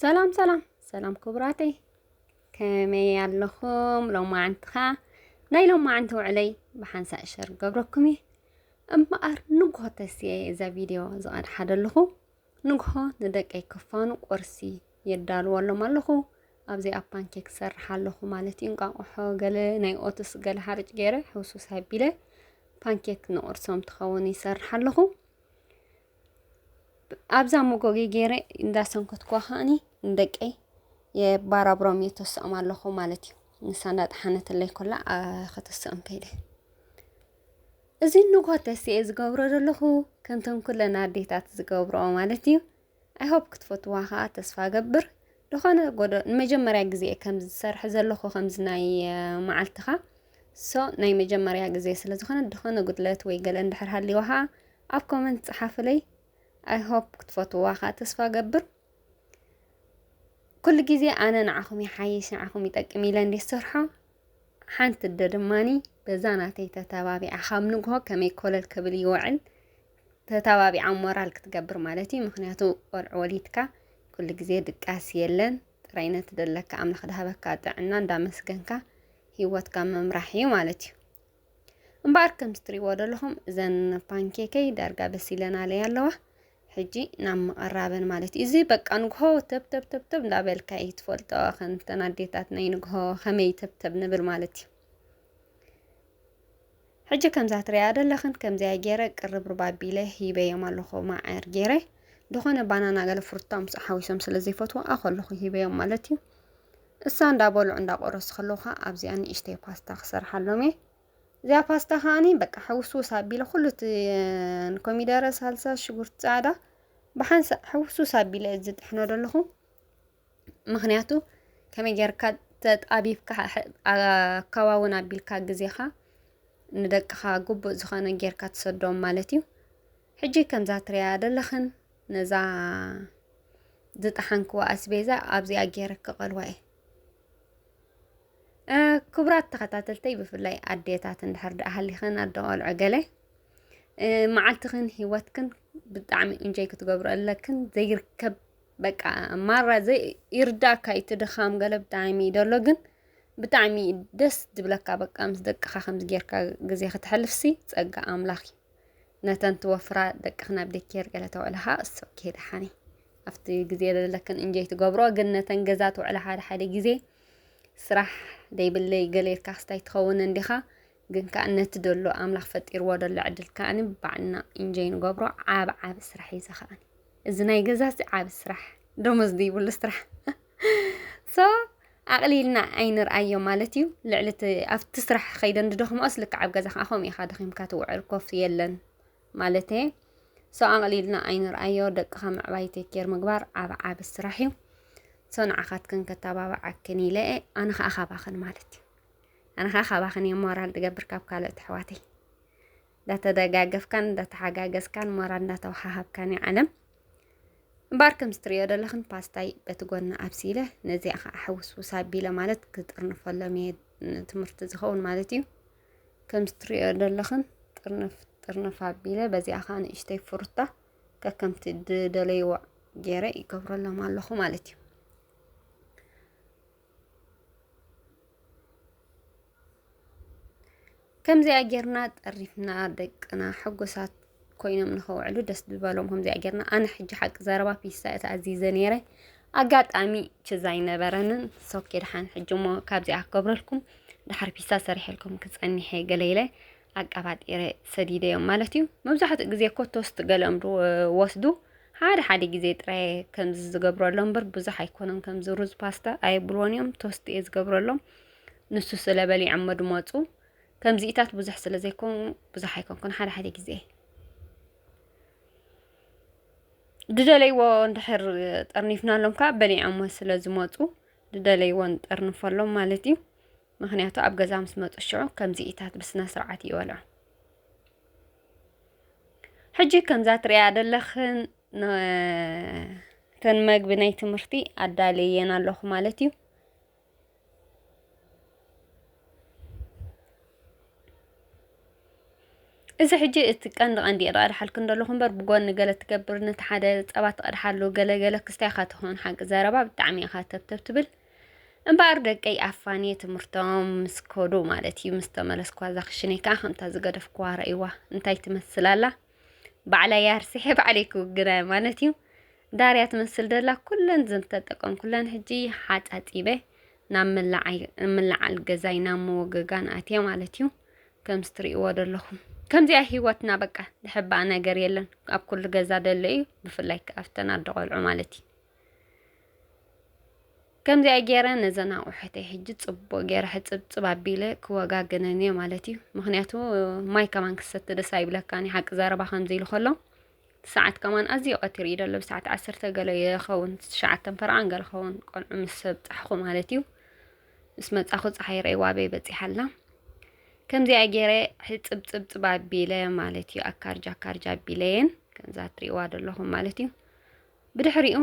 ሰላም ሰላም ሰላም ክቡራተይ ከመይ ኣለኹም ሎማዓንትኻ ናይ ሎማዓንቲ ውዕለይ ብሓንሳእ ሸር ገብረኩም እየ እምበኣር ንጎተስ እየ እዛ ቪድዮ ዝቐድሓ ዘለኹ ንግሆ ንደቀይ ክፋኑ ቁርሲ የዳልወሎም ኣለኹ። ኣብዚ ኣብ ፓንኬክ ክሰርሕ ኣለኹ ማለት እዩ። እንቋቑሖ ገለ ናይ ኦትስ ገለ ሓርጭ ገይረ ሕውስውስ ኣቢለ ፓንኬክ ንቑርሶም ትኸውን ይሰርሕ ኣለኹ። ኣብዛ መጎጊ ገይረ እንዳሰንከትኳ ከዓኒ ንደቀይ የባራብሮም የተስኦም ኣለኹ ማለት እዩ። ንሳ እንዳጠሓነትለይ ኮላ ከተስኦም ከይደ እዚ ንጎ ተስኤ ዝገብሮ ዘለኹ ከምተን ኩለን ኣዴታት ዝገብርኦ ማለት እዩ ኣይሆፕ ክትፈትዋ ከዓ ተስፋ ገብር ዝኾነ ጎዶ ንመጀመርያ ግዜ እየ ከምዚ ዝሰርሐ ዘለኹ ከምዚ ናይ መዓልትኻ ሶ ናይ መጀመርያ ግዜ ስለ ዝኾነ ድኾነ ጉድለት ወይ ገለ እንድሕር ሃሊዋ ከዓ ኣብ ኮመንት ፀሓፍለይ ኣይሆፕ ክትፈትዋ ከዓ ተስፋ ገብር ኩሉ ግዜ ኣነ ንዓኹም ይሓይሽ ንዓኹም ይጠቅም ኢለ እንዴ ዝሰርሖ ሓንቲ እደ ድማኒ በዛ ናተይ ተተባቢዓ ካብ ንግሆ ከመይ ኮለል ክብል ይውዕል ተተባቢዓ ሞራል ክትገብር ማለት እዩ። ምክንያቱ ቆልዑ ወሊድካ ኩሉ ግዜ ድቃስ የለን ጥራይነት ደለካ ኣምላኽ ድሃበካ ጥዕና እንዳመስገንካ ሂወትካ ምምራሕ እዩ ማለት እዩ። እምበኣር ከምቲ ትሪእዎ ዘለኹም እዘን ፓንኬከይ ዳርጋ በሲለን ኣለያ ኣለዋ ሕጂ ናብ ምቐራበን ማለት እዩ እዚ በቃ ንግሆ ተብተብ ተብተብ እንዳበልካ እዩ ትፈልጦ ከምተን ኣዴታት ናይ ንግሆ ከመይ ተብተብ ንብል ማለት እዩ ሕጂ ከምዛ ትሪያ ዘለኽን ከምዚያ ገይረ ቅርብርብ ኣቢለ ሂበዮም ኣለኹ ማዓር ገይረ ዝኾነ ባናና ገለ ፍሩታ ምስ ሓዊሶም ስለ ዘይፈትዎ ኣኸለኹ ሂበዮም ማለት እዩ እሳ እንዳ በልዑ እንዳ ቆረሱ ከለዉ ከኣ ኣብዚኣ ንእሽተይ ፓስታ ክሰርሓሎም እየ እዚኣ ፓስታ ከኣኒ በቃ ሕውስውስ ኣቢለ ኩሉ እቲ ኮሚደረ ሳልሳ ሽጉርቲ ጻዕዳ ብሓንሳእ ሕውስውስ ኣቢለ እዚ ጥሕኖ ዘለኹ ምክንያቱ ከመይ ጌርካ ተጣቢብካ ኣከባውን ኣቢልካ ግዜኻ ንደቅኻ ግቡእ ዝኾነ ጌርካ ትሰዶም ማለት እዩ ሕጂ ከምዛ ትሪያ ደለኽን ነዛ ዝጠሓንክዋ ኣስቤዛ ኣብዚኣ ገይረ ክቐልዋ እየ። ክቡራት ተኸታተልተይ ብፍላይ ኣዴታት እንድሕር ደኣ ሃሊኸን ኣደ ቆልዑ ገለ መዓልትኽን ሂወትክን ብጣዕሚ እንጆይ ክትገብሩ ኣለክን ዘይርከብ በቃ ማራ ይርዳእካ እዩ እቲ ድኻም ገለ ብጣዕሚ እዩ ደሎ ግን ብጣዕሚ ደስ ዝብለካ በቃ ምስ ደቅኻ ከምዚ ጌርካ ግዜ ከተሕልፍሲ ጸጋ ኣምላኽ እዩ። ነተን ትወፍራ ደቅኽ ናብ ዴኬር ገለ ተውዕልኻ እሶኬ ደሓኒ ኣብቲ ግዜ ዘለክን እንጀይ ትገብሮ ግን ነተን ገዛ ትውዕላ ሓደ ሓደ ግዜ ስራሕ ደይብለይ ገለ ኢልካ ክስታይ ትኸውን እንዲኻ ግን ከዓ ነቲ ደሎ ኣምላኽ ፈጢርዎ ደሎ ዕድል ከዓኒ ባዕልና እንጀይ ንገብሮ ዓብ ዓብ ስራሕ እዩ ዘኸኣኒ እዚ ናይ ገዛ እዚ ዓብ ስራሕ ደሞዝ ዘይብሉ ስራሕ ሶ ኣቕሊልና ኣይንርኣዮ ማለት እዩ ልዕሊ ኣብቲ ስራሕ ከይደን ድደኽምኦስ ልክዕ ኣብ ገዛኻ ከምኡ ኢኻ ደኺምካ ትውዕል ኮፍ የለን ማለት እየ ሶ ኣቕሊልና ኣይንርኣዮ ደቅኻ ምዕባይ ቴኬር ምግባር ዓብ ዓብ ስራሕ እዩ ሶ ንዓኻትክን ከተባብዓክን ኢለ እየ ኣነ ከዓ ካባኽን ማለት እዩ ኣነ ከዓ ካባኽን እየ ሞራል ድገብር ካብ ካልኦት ኣሕዋተይ እንዳተደጋገፍካን እንዳተሓጋገዝካን ሞራል እንዳተወሃሃብካን እዩ ዓለም እምበኣር ከምዚ ትርእዮ ዘለኽን ፓስታይ በቲ ጎኒ ኣብሲለ ነዚኣ ከዓ ሕውስውስ ኣቢለ ማለት ክጥርንፈሎም እየ ትምህርቲ ዝኸውን ማለት እዩ ከምዚ ትርእዮ ዘለኽን ጥርንፍ ጥርንፍ ኣቢለ በዚኣ ከዓ ንእሽተይ ፍሩታ ከከምቲ ዝደለይዎ ገይረ ይገብረሎም ኣለኹ ማለት እዩ ከምዚኣ ጌርና ጠሪፍና ደቅና ሕጉሳት ኮይኖም ንኸውዕሉ ደስ ዝበሎም ከምዚኣ ጌርና ኣነ ሕጂ ሓቂ ዘረባ ፒሳ እቲ ኣዚዘ ነይረ ኣጋጣሚ ችዛ ኣይነበረንን ሶኬ ድሓን ሕጂ እሞ ካብዚኣ ክገብረልኩም ድሓር ፒሳ ሰሪሐልኩም ክጸኒሐ ገለ ኢለ ኣቀባጢረ ሰዲደዮም ማለት እዩ። መብዛሕትኡ ግዜ ኮቶስ ገለኦም ወስዱ ሓደ ሓደ ግዜ ጥራይ ከምዚ ዝገብረሎም እምበር ብዙሕ ኣይኮነን። ከምዚ ሩዝ ፓስታ ኣየብልዎን እዮም ቶስት እየ ዝገብረሎም ንሱ ስለ በሊዖም መድመፁ ከምዚኢታት ብዙሕ ስለ ዘይኮኑ ብዙሕ ኣይኮንኩን ሓደ ሓደ ግዜ ድደለይዎ እንድሕር ጠርኒፍናሎም ከዓ በሊዖሞ ስለ ዝመፁ ድደለይዎ ንጠርንፈሎም ማለት እዩ። ምክንያቱ ኣብ ገዛ ምስ መጹ ሽዑ ከምዚኢታት ብስነ ስርዓት ይበልዑ። ሕጂ ከምዛ ትሪኣ ዘለኽን ተን መግቢ ናይ ትምህርቲ ኣዳለየን ኣለኹ ማለት እዩ። እዚ ሕጂ እቲ ቀንዲ ቀንዲ እየ ዝቐድሓልክን ዘለኹ እምበር ብጎኒ ገለ ትገብር ነቲ ሓደ ፀባ ትቐድሓሉ ገለ ገለ ክስታይ ኢኻ ትኸውን ሓቂ ዘረባ ብጣዕሚ ኢኻ ተብተብ ትብል እምበኣር ደቀይ ኣፋንየ ትምህርቶም ምስ ከዱ ማለት እዩ ምስ ተመለስኳ እዛ ክሽነይ ከዓ ከምታ ዝገደፍክዋ ረእይዋ እንታይ ትመስል ኣላ ባዕላይ ኣርሲሐ ባዕለይ ክውግናዮ ማለት እዩ ዳርያ ትመስል ደላ ኩለን ዘንተጠቀምኩለን ሕጂ ሓፃፂበ ናብ ምልዓል ገዛይ ናብ መወገጋን ኣትየ ማለት እዩ ከምዚ ትርእይዎ ዘለኹም ከምዚኣ ሂወትና በቃ ዝሕባእ ነገር የለን ኣብ ኩሉ ገዛ ደሎ እዩ ብፍላይ ከኣፍተን ኣደ ቆልዑ ማለት እዩ ከምዚኣ ገይረ ነዘን ኣቑሑተይ ሕጂ ፅቡቅ ገይረ ሕፅብፅብ ኣቢለ ክወጋገነን እየ ማለት እዩ ምክንያቱ ማይ ከማን ክሰቲ ደስ ኣይብለካን ሓቂ ዘረባ ከምዚ ኢሉ ከሎ ሰዓት ከማን ኣዝዩ ቀትሪ እዩ ደሎ ብሰዓት ዓሰርተ ገለ ይኸውን ትሽዓተን ፈርቓን ገለ ኸውን ቆልዑ ምስ ኣብፃሕኹ ማለት እዩ ምስ መፃኹ ፀሓይ ረእዋ በይ በፂሓ ኣላ ከምዚኣ ገይረ ሕፅብፅብፅብ ኣቢለ ማለት እዩ ኣካርጃ ኣካርጃ ኣቢለየን ከምዛ ትሪእዋ ደለኹም ማለት እዩ ብድሕሪኡ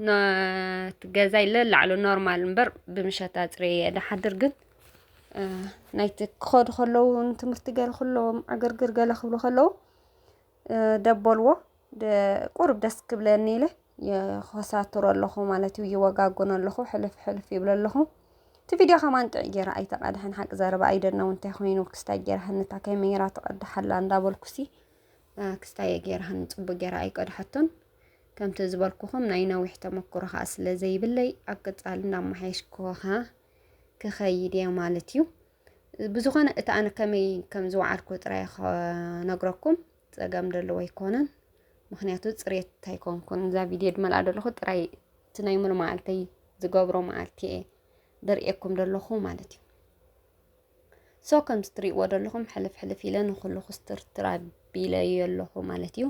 ነቲ ገዛይ ለላዕሉ ኖርማል እምበር ብምሸት ኣፅርየ እየ ድሓድር ግን ናይቲ ክኸዱ ከለዉ ንትምህርቲ ገለ ከለዎም ዕግርግር ገለ ክብሉ ከለዉ ደበልዎ ቁርብ ደስ ክብለኒ ኢለ ይኸሳትሮ ኣለኹ ማለት እዩ ይወጋጎን ኣለኹ ሕልፍ ሕልፍ ይብለ ኣለኹ እቲ ቪድዮ ከማን ጥዕ ጌራ ኣይተቐድሐን ሓቂ ዘረባ ኣይደናው እንታይ ኮይኑ ክስታይ ጌራ ህንታ ከመይ ጌራ ትቐድሓላ እንዳበልኩሲ ክስታየ ጌራ ህን ፅቡቅ ጌራ ኣይቀድሐቱን ከምቲ ዝበልኩኹም ናይ ነዊሕ ተመክሮ ከዓ ስለ ዘይብለይ ኣብ ቀፃሊ እንዳማሓየሽኩ ከዓ ክኸይድ እየ ማለት እዩ ብዝኾነ እቲ ኣነ ከመይ ከም ዝወዓልኩ ጥራይ ነግረኩም ፀገም ደለዎ ኣይኮነን ምክንያቱ ፅሬት ኣይኮንኩን እዛ ቪድዮ ድመልኣ ደለኹ ጥራይ እቲ ናይ ሙሉ መዓልተይ ዝገብሮ መዓልቲ እየ ደርእየኩም ደለኹ ማለት እዩ ሶ ከም ዝትሪእዎ ደለኹም ሕልፍ ሕልፍ ኢለ ንኩሉ ክስትርትር ኣቢለዮ ኣለኹ ማለት እዩ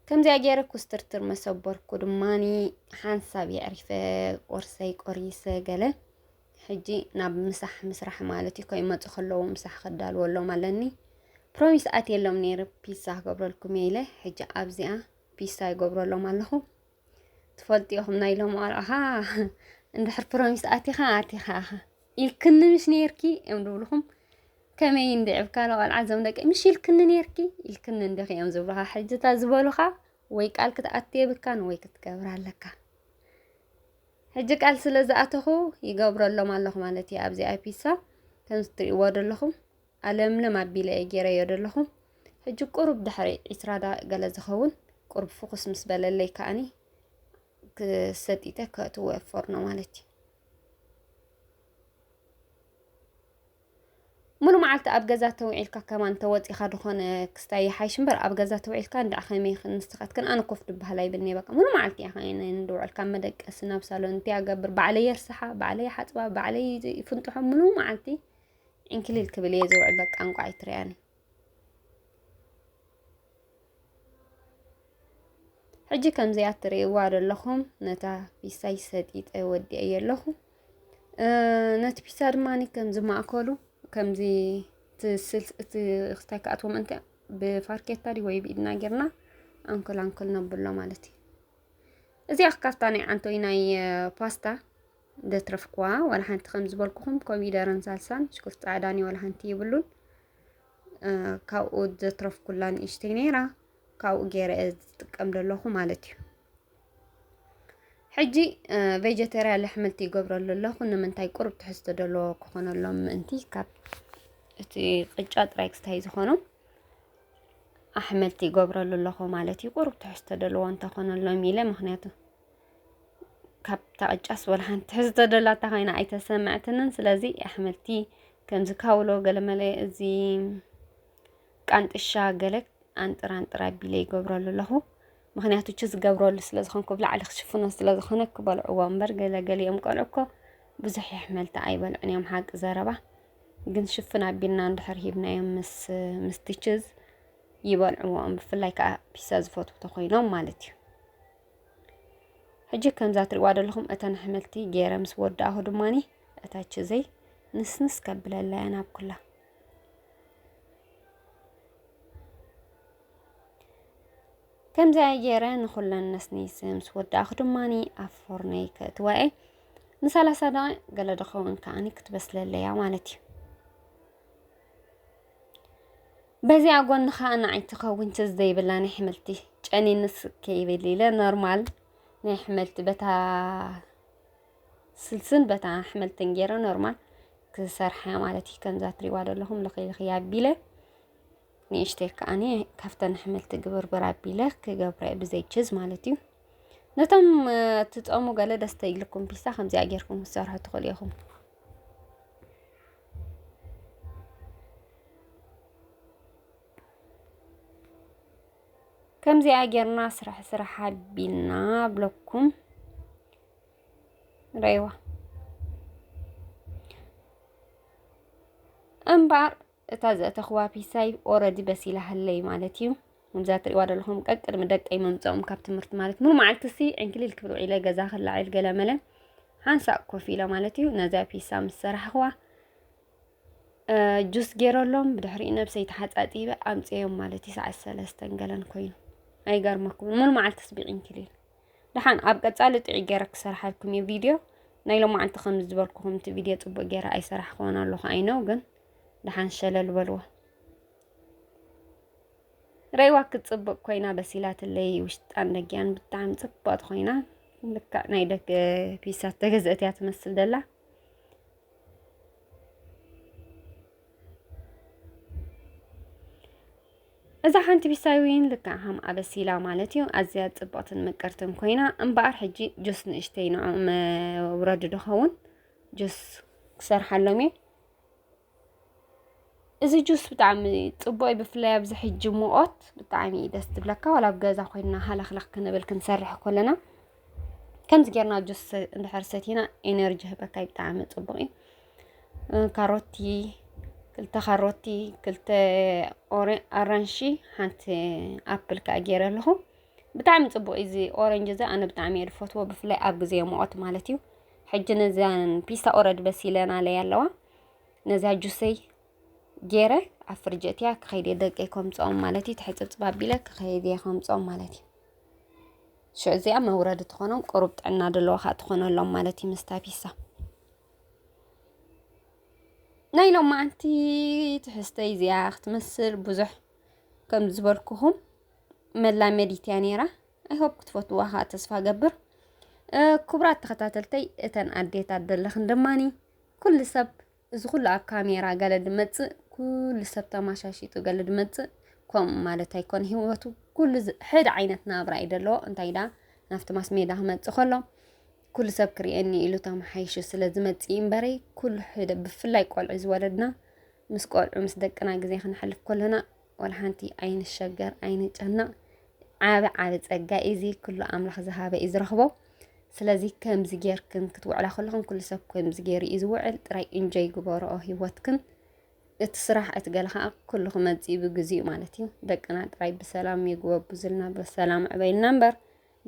ከምዚኣ ገይረ ኩስትርትር መሰበርኩ ድማኒ ሓንሳብ የዕሪፈ ቁርሰይ ቆሪሰ ገለ ሕጂ ናብ ምሳሕ ምስራሕ ማለት እዩ ከይመፁ ከለዉ ምሳሕ ከዳልወሎም ኣለኒ ፕሮሚስ ኣትየሎም ነይረ ፒሳ ክገብረልኩም እየ ኢለ ሕጂ ኣብዚኣ ፒሳ ይገብረሎም ኣለኹ ትፈልጥዮ ኹም ናይ ሎም ኣርኣኻ እንድሕር ፕሮሚስ ኣቲኻ ኣቲኻ ኢኻ ኢልክኒ ምስ ነርኪ እዮም ዝብልኹም ከመይ እንድዕብካ ንቆልዓ ዞም ደቂ ምሽ ኢልክኒ ነርኪ ኢልክኒ እንዲኺ እዮም ዝብልኻ ሕጅታ ዝበሉኻ ወይ ቃል ክትኣቲ የብካን ወይ ክትገብር ኣለካ ሕጂ ቃል ስለ ዝኣተኹ ይገብረሎም ኣለኹ ማለት እዩ ኣብዚ ኣይፒሳ ከምዚ ትሪእዎ ዘለኹም ኣለምለም ኣቢለ እየ ጌረዮ ዘለኹ ሕጂ ቁሩብ ድሕሪ ዒስራዳ ገለ ዝኸውን ቁሩብ ፍኹስ ምስ በለለይ ከዓኒ ክሰጢጠ ከእትዎ ፎርኖ ማለት እዩ ሙሉ መዓልቲ ኣብ ገዛ ተውዒልካ ከማን ተወፂኻ ዝኾነ ክስታይ ይሓይሽ እምበር ኣብ ገዛ ተውዒልካ እንዳ ከመይ ንስኻትክን ኣነ ኮፍ ድበሃል ኣይብልኒ በቃ ሙሉ መዓልቲ እያ ከይነ ንድውዕልካ መደቀሲ ናብ ሳሎን እንታይ ኣገብር ባዕለይ የርስሓ ባዕለይ ሓፅባ ባዕለይ ፍንጥሖ ሙሉ መዓልቲ ዕንኪሊል ክብል እየ ዝውዕል በቃ እንቋዕ ኣይትሪኣኒ ሕጂ ከምዚኣ እትርእይዋ ዘለኹም ነታ ፒሳይ ሰጢጠ ወዲኣየ ኣለኹ ነቲ ፒሳ ድማ ከምዚ ማእከሉ ከምዚ እቲ ክስታይ ክኣትዎ ምእንቲ ብፋርኬታ ድዩ ወይ ብኢድና ጌርና ኣንኮል ኣንኮል ነብሎ ማለት እዩ እዚኣ ካብታ ናይ ዓንቶይ ናይ ፓስታ ዘትረፍኩዋ ዋላ ሓንቲ ከም ዝበልኩኹም ኮሚደረን ሳልሳን ሽጉርቲ ጻዕዳን ዋላ ሓንቲ ይብሉን ካብኡ ዘትረፍኩላ ንእሽተይ ነይራ ካብኡ ገይረ ዝጥቀም ዘለኹ ማለት እዩ ሕጂ ቬጀተርያል ኣሕምልቲ ይገብረሉ ኣለኹ ንምንታይ ቁርብ ትሕዝቶ ዘለዎ ክኾነሎም ምእንቲ ካብ እቲ ቅጫ ጥራይ ክስታይ ዝኾኑ ኣሕምልቲ ይገብረሉ ኣለኹ ማለት እዩ ቁርብ ትሕዝቶ ዘለዎ እንተኾነሎም ኢለ ምክንያቱ ካብታ ቅጫስ ወላ ሓንቲ ትሕዝቶ ደላታ ኮይና ኣይተሰምዐትንን። ስለዚ ኣሕምልቲ ከምዚ ካውሎ ገለመለ እዚ ቃንጥሻ ገለ ኣንጥራ ኣንጥራ ኣቢለ ይገብረሉ ኣለኹ። ምክንያቱ ች ዝገብረሉ ስለ ዝኾንኩ ብላዕሊ ክሽፍኖ ስለ ዝኾነ ክበልዕዎ እምበር ገለገሊኦም ቆልዑ እኮ ብዙሕ ኣሕምልቲ ኣይበልዑን እዮም ሓቂ ዘረባ ግን ሽፍን ኣቢልና እንድሕር ሂብናዮም ምስ ምስቲ ችዝ ይበልዕዎም ብፍላይ ከዓ ፒሳ ዝፈትዉ ተኮይኖም ማለት እዩ። ሕጂ ከምዛ ትሪእዋ ዘለኹም እተን ኣሕምልቲ ገይረ ምስ ወዳእኹ ድማኒ እታች ዘይ ንስንስ ከብለላ እያ ናብ ኩላ ከምዚ ገይረ ንኹለን ነስኒስ ምስ ወዳእኹ ድማኒ ኣብ ፎርነይ ከእትዋ እየ ንሰላሳ ደቂቕ ገለ ድኸውን ከዓኒ ክትበስለለያ ማለት እዩ በዚኣ ጎኒ ከዓ ንዓይ ትኸውን ትዝ ዘይብላ ናይ ኣሕምልቲ ጨኒንስ ከይብል ኢለ ኖርማል ናይ ኣሕምልቲ በታ ስልስን በታ ኣሕምልትን ገይረ ኖርማል ክሰርሓ ማለት እዩ ከምዛ ትሪዋ ዘለኹም ልኺ ልኺ ኣቢለ ንእሽተይ ከዓኒ ካብተን ኣሕምልቲ ግብርብር ኣቢለ ክገብረ ብዘይ ችዝ ማለት እዩ ነቶም ትፀሙ ገለ ደስ ተይልኩም ፒሳ ከምዚኣ ጌርኩም ክሰርሑ ትኽእሉ ኢኹም ከምዚኣ ጌርና ስራሕ ስራሕ ኣቢልና ብለኩም ረይዋ እምበኣር እታ ዘእተኽዋ ፒሳይ ኦረዲ በሲላ ሃለይ ማለት እዩ እዛ ትሪእዋ ዘለኹም ቀቅድሚ ደቀይ መምፀኦም ካብ ትምህርቲ ማለት ሙሉ መዓልቲ ሲ ዕንክሊል ክብል ውዒለ ገዛ ክላዕል ገለመለ ሓንሳእ ኮፍ ኢለ ማለት እዩ ነዛ ፒሳ ምስ ሰራሕኽዋ ጁስ ገይረሎም ብድሕሪ ነብሰይ ተሓፃፂበ ኣምፅዮም ማለት እዩ ሰዓት ሰለስተን ገለን ኮይኑ ኣይገርመኩም ሙሉ መዓልቲ ስቢዕ ዕንክሊል ደሓን ኣብ ቀጻሊ ጥዑይ ገይረ ክሰርሓልኩም እየ ቪድዮ ናይ ሎማዓንቲ ከም ዝበልኩኹም እቲ ቪድዮ ጽቡቅ ገይረ ኣይሰራሕክዎን ኣለኹ ኣይነው ግን ደሓን ሸለል በልዎ ረይዋ ክትጽብቅ ኮይና በሲላትለይ ውሽጣን ደጊያን ብጣዕሚ ጽብቅቲ ኮይና ልክዕ ናይ ደገ ፒሳ ተገዝእት እያ ትመስል ደላ እዛ ሓንቲ ቢሳዊን ልክዕ ከም ኣበሲላ ማለት እዩ ኣዝያ ፅብቕትን ምቅርትን ኮይና እምበኣር ሕጂ ጁስ ንእሽተይ ንዑ መውረዲ ድኸውን ጁስ ክሰርሓሎም እየ እዚ ጁስ ብጣዕሚ ጽቡቅ እዩ ብፍላይ ኣብዚ ሕጂ ሙቆት ብጣዕሚ እዩ ደስ ዝብለካ ዋላ ኣብ ገዛ ኮይንና ሃለኽለኽ ክንብል ክንሰርሕ ኮለና ከምዚ ጌርና ጁስ እንድሕር ሰቲና ኤነርጂ ህበካ እዩ ብጣዕሚ ጽቡቅ እዩ ካሮቲ ክልተ ካሮቲ ክልተ ኦረ ኣራንሺ ሓንቲ ኣፕል ከዓ ገይረ ኣለኹ ብጣዕሚ ጽቡቅ እዩ እዚ ኦረንጅ እዚ ኣነ ብጣዕሚ እየ ዝፈትዎ ብፍላይ ኣብ ግዜ ሙቆት ማለት እዩ ሕጂ ነዚኣን ፒስታ ኦረድ በሲለና ለይ ኣለዋ ነዛ ጁሰይ ገይረ ኣብ ፍርጀትያ ክኸይድ እየ ደቀይ ከምፅኦም ማለት እዩ ትሕፅብፅብ ኣቢለ ክኸይድ እየ ከምፅኦም ማለት እዩ ሽዑ እዚኣ መውረዲ ትኾኖም ቅሩብ ጥዕና ድለዋኻ ትኾነሎም ማለት እዩ ምስታ ፒሳ ናይ ሎማዓንቲ ትሕዝተይ እዚኣ ክትመስል ብዙሕ ከም ዝበልኩኹም መላመዲት እያ ነይራ ኣይሆፕ ክትፈትዋ ኸዓ ተስፋ ገብር ክቡራት ተኸታተልተይ እተን ኣዴታት ዘለኽን ደማኒ ኩሉ ሰብ እዚ ኩሉ ኣብ ካሜራ ገለ ድመፅእ ኩሉ ሰብ ተማሻሺጡ ገለ ድመፅእ ከምኡ ማለት ኣይኮን ሂወቱ ኩሉ ሕድ ዓይነት ናብራ እዩ ደለዎ እንታይ ዳ ናብቲ ማስ ሜዳ ክመፅእ ከሎ ኩሉ ሰብ ክርእየኒ ኢሉ ተመሓይሹ ስለ ዝመፅእ እምበረይ ኩሉ ሕደ ብፍላይ ቆልዑ ዝወለድና ምስ ቆልዑ ምስ ደቅና ግዜ ክንሕልፍ ከለና ወላ ሓንቲ ኣይንሸገር ኣይንጨነቕ ዓብ ዓብ ጸጋ እዩ እዚ ኩሉ ኣምላኽ ዝሃበ እዩ ዝረኽቦ ስለዚ ከምዚ ጌርክን ክትውዕላ ከለኹም ኩሉ ሰብ ከምዚ ጌሩ እዩ ዝውዕል ጥራይ እንጆይ ግበርኦ ሂወትክን እቲ ስራሕ እቲ ገለ ከዓ ኩሉ ክመፅእ ብግዚኡ ማለት እዩ ደቅና ጥራይ ብሰላም ይግበቡ ዝልና ብሰላም ዕበይልና እምበር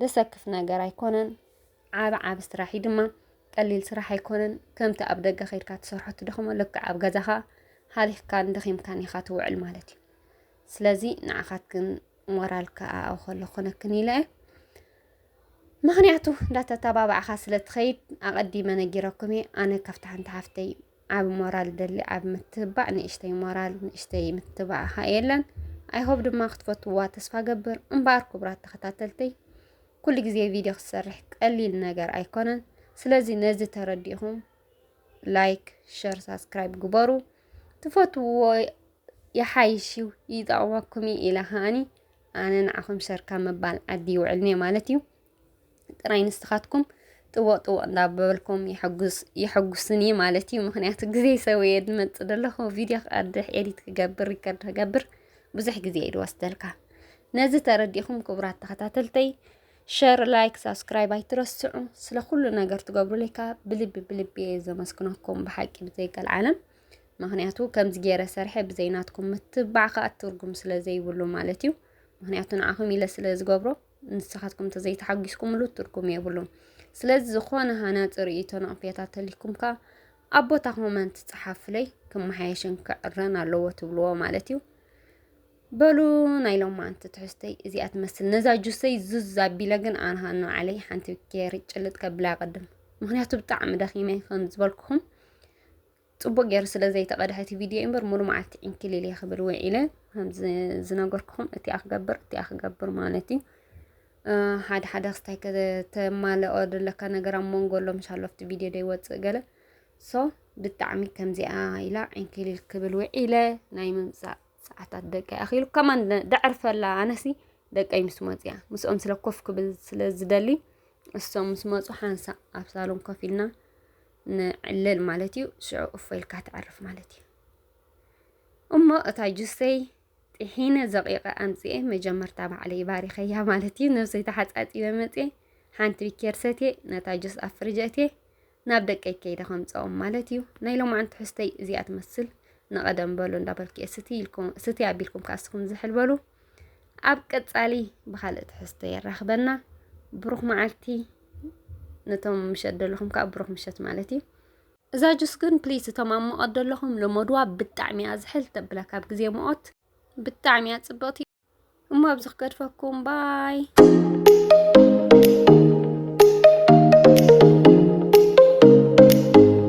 ደሰክፍ ነገር ኣይኮነን ዓብ ዓብ ስራሕ እዩ ድማ ቀሊል ስራሕ ኣይኮነን ከምቲ ኣብ ደገ ከድካ ትሰርሖ ትደኽሞ ልክዕ ኣብ ገዛኻ ሃሊኽካን ደኺምካን ኢኻ ትውዕል ማለት እዩ ስለዚ ንዓኻትክን ሞራልካ ኣኡ ከሎ ኮነክን ኢለ ምክንያቱ እንዳተተባባዕካ ስለ ትኸይድ ኣቐዲመ ነጊረኩም እየ ኣነ ካብቲ ሓንቲ ሓፍተይ ዓቢ ሞራል ደሊ ዓቢ ምትባዕ ንእሽተይ ሞራል ንእሽተይ ምትባዕ ካ የለን ኣይሆብ ድማ ክትፈትዋ ተስፋ ገብር እምበኣር ክቡራት ተኸታተልተይ ኩሉ ግዜ ቪድዮ ክሰርሕ ቀሊል ነገር ኣይኮነን ስለዚ ነዚ ተረዲእኹም ላይክ ሸር ሳብስክራይብ ግበሩ ትፈትውዎ ይሓይሽ እዩ ይጠቕመኩም እዩ ኢለ ከዓኒ ኣነ ንዓኹም ሸርካ ምባል ዓዲ ይውዕልኒ ማለት እዩ ጥራይ ንስኻትኩም ጥወቕ ጥወቕ እንዳበልኩም የሐጉስኒ ማለት እዩ። ምክንያቱ ግዜ ሰውየ ድመፅእ ዘለኹ ቪድዮ ክቐድሕ ኤዲት ክገብር ሪከርድ ክገብር ብዙሕ ግዜ እዩ ድወስደልካ። ነዚ ተረዲኹም ክቡራት ተኸታተልተይ ሸር፣ ላይክ፣ ሳብስክራይብ ኣይትረስዑ። ስለ ኩሉ ነገር ትገብሩለይ ከዓ ብልቢ ብልቢ እየ ዘመስግነኩም ብሓቂ ብዘይገል ዓለም ምክንያቱ ከምዚ ገይረ ሰርሐ ብዘይናትኩም ምትባዕ ከዓ ትርጉም ስለ ዘይብሉ ማለት እዩ። ምክንያቱ ንዓኹም ኢለ ስለ ዝገብሮ ንስኻትኩም እንተዘይተሓጊስኩምሉ ትርጉም የብሉን ስለዚ ዝኾነ ሃናፂ ርእይቶ ነቕፌታ ተሊኩም ከ ኣብ ቦታ ኮመንት ፀሓፍለይ ክመሓየሽን ክዕረን ኣለዎ ትብልዎ ማለት እዩ በሉ ናይ ሎማንቲ ትሕዝተይ እዚኣ ትመስል ነዛ ጁሰይ ዙዝ ኣቢለ ግን ኣንሃኖ ዓለይ ሓንቲ ኬሪ ጭልጥ ከብላ ቅድም ምክንያቱ ብጣዕሚ ደኺመ ከም ዝበልኩኹም ጽቡቅ ገይሩ ስለ ዘይተቀድሐ እቲ ቪድዮ እምበር ሙሉ መዓልቲ ዕንክሊል እየ ክብል ውዒለ ከምዚ ዝነገርኩኹም እቲኣ ክገብር እቲኣ ክገብር ማለት እዩ ሓደ ሓደ ክስታይ ከተማልኦ ዘለካ ነገር ኣብ መንጎ ኣሎ ምሻሎ ኣብቲ ቪድዮ ዶ ይወፅእ ገለ ሶ ብጣዕሚ ከምዚኣ ኢላ ዕንክሊል ክብል ውዒለ ናይ ምምፃእ ሰዓታት ደቂ ኣኺሉ ከማን ደዕርፈላ ኣነሲ ደቀይ ምስ መፅያ ምስኦም ስለ ኮፍ ክብል ስለ ዝደሊ እሶም ምስ መፁ ሓንሳእ ኣብ ሳሎን ኮፍ ኢልና ንዕልል ማለት እዩ ሽዑ እፎ ኢልካ ትዕርፍ ማለት እዩ እሞ እታ ጁሰይ ጥሒነ ዘቂቐ ኣምፅኤ መጀመርታ ባዕለይ ባሪኸያ ማለት እዩ ነብሰይ ተሓፃፂበ መፅኤ ሓንቲ ቢኬር ሰትየ ነታ ጁስ ኣብ ፍርጀ እትየ ናብ ደቀይ ከይደ ከምፀኦም ማለት እዩ ናይ ሎማዓንቲ ትሕዝተይ እዚኣ ትመስል ንቐደም በሉ እንዳበልኩ እየ ስቲ ኢልኩም ስቲ ኣቢልኩም ካስኹም ዝሕል በሉ ኣብ ቀጻሊ ብኻልእ ትሕዝቶ የራኽበና ብሩኽ መዓልቲ ነቶም ምሸት ዘለኹም ከዓ ብሩኽ ምሸት ማለት እዩ እዛ ጁስ ግን ፕሊዝ እቶም ኣብ መቐት ዘለኹም ልመድዋ ብጣዕሚ እያ ዝሕል ተብላ ካብ ግዜ መቐት ብጣዕሚ እያ ፅብቕቲ እሞ ኣብዚ ክገድፈኩም ባይ